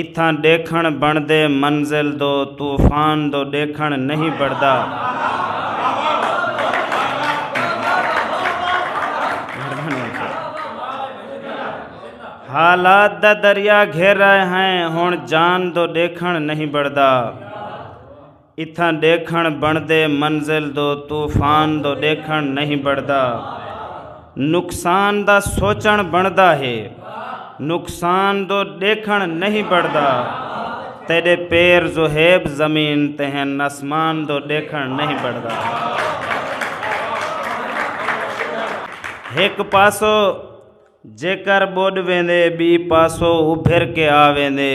اتھاں ڈیکھنڑ بنڑدے منزل دو طوفان دو ڈیکھنڑ نہیں بنڑدا۔ حالات دا دریا گھر آئے ہیں ہنڑ جان دو ڈیکھنڑ نہیں بنڑدا۔ اتھاں ݙیکھݨ بݨدے منزل دو طوفان دو ݙیکھݨ نہیں بݨدا نقصان دا سوچݨ بݨدا ہے نقصان دو ݙیکھݨ نہیں بݨدا تیݙے پیر زہیب زمین تے ہن اسمان دو ݙیکھݨ نہیں بݨدا ہک پاسو جیکر ٻݙ ویندے ٻی پاسو ابھر کے آ ویندے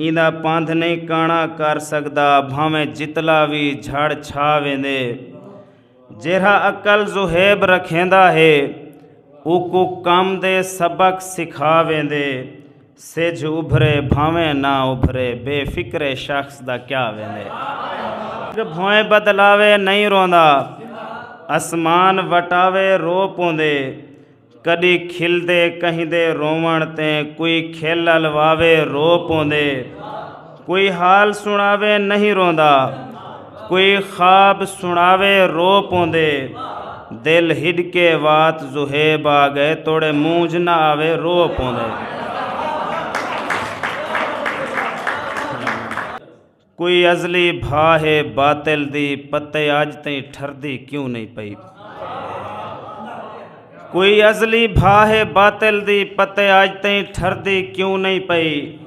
ایندا پندھ نئیں کاݨا کر سڳدا بھانویں جتلا وی جھڑ چھا ویندے جیرھا عقل ذوہیب رکھیندا ہے اوکوں کم دے سبق سکھا ویندے سجھ ابھرے بھانویں نہ ابھرے بے فکرے شخص دا کیا ویندے بھوئیں بدلاوے نئیں روندا اسمان وٹاوے رو پوندے کڈی کھلدے کہیں دے روون تیں کوئی کھل الواوے رو پوندے۔ کوئی حال سناوے نہیں روندا کوئی خواب سناوے رو پوندے دل ہڈکے وات زہیب آ گئے توڑے مونج نہ آوے رو پوندے کوئی ازلی بھا ہے باطل دی پتے اج تئیں ٹھردی کیوں نہیں پئی کوئی ازلی بھا ہے باطل دی پتے اج تئیں ٹھردی کیوں نہیں پئی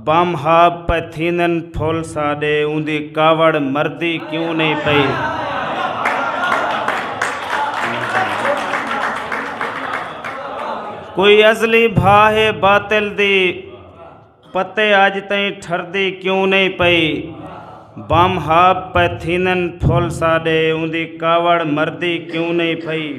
بم ہاب پئے تھیندن پھل ساڈے اوندی کاوڑ مردی کیوں نہیں پئی کوئی ازلی بھا ہے باطل دی پتے اج تائیں ٹھردی کیوں نہیں پئی بم ہاب پہ تھینن پھول ساڈے اوندی کاوڑ مردی کیوں نہیں پئی